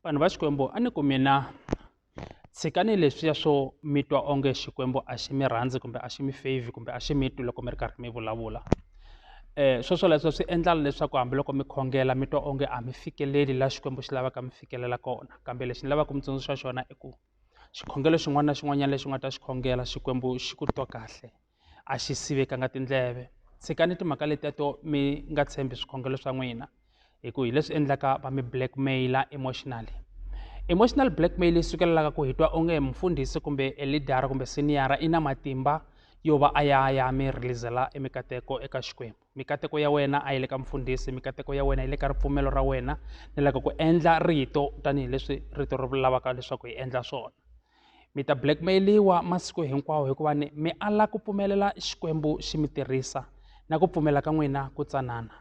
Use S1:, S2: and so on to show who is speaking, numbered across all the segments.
S1: vanhu va xikwembu a ni ku mina tshikani leswiya swo mi twa onge xikwembu a xi mi rhandzi kumbe a xi mi favor kumbe a xi mi twi loko mi ri karhi mi vulavula um swo swoleswo swi endla leswaku hambiloko mi khongela mi twa onge a mi fikeleli laha xikwembu xi lavaka mi fikelela kona kambe lexi ni lavaka mi tsundzuxa xona i ku xikhongelo xin'wana na xin'wanyana lexi u nga ta xi khongela xikwembu xi ku twa kahle a xi sivekanga tindleve tshikani timhaka letiya to mi nga tshembi swikhongelo swa n'wina hi ku hi leswi endlaka va mi blackmaila emotionally emotional blackmail yi sukelelaka ku hi twa onge mfundhisi kumbe e leader kumbe siniyara i na matimba yo va a ya ya mi releasela e mikateko eka xikwembu mikateko ya wena a yi le ka mfundhisi mikateko ya wena yi le ka ripfumelo ra wena ni loko ku endla rito tanihileswi rito ri lavaka leswaku hi endla swona mi ta blackmail-iwa masiku hinkwawo hikuva ni mi ala ku pfumelela xikwembu xi mi tirhisa na ku pfumela ka n'wina ku tsanana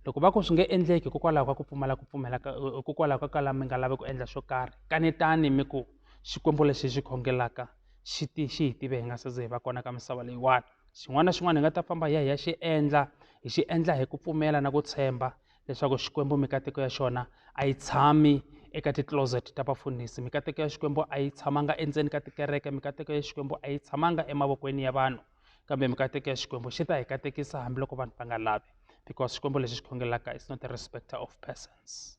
S1: loko va ku swi nge endleki hikokwalaho ka ku pfumala ku pfumela hikokwalaho ka kala mi nga lavi ku endla xo karhi kanetani mi ku xikwembu lexi xi khongelaka xi ti xi hi tive hi nga se ze hi va kona ka misava leyiwani xin'wana na xin'wana hi nga ta famba hi ya hi ya xi endla hi xi endla hi ku pfumela na ku tshemba leswaku xikwembu mikateko ya xona a yi tshami eka ti-closet ta vafundhisi mikateko ya xikwembu a yi tshamanga endzeni ka tikereke mikateko ya xikwembu a yi tshamanga emavokweni ya vanhu kambe mikateko ya xikwembu xi ta hi katekisa hambiloko vanhu va nga lavi because xikwembu lexi xi khongelaka is not a respecter of persons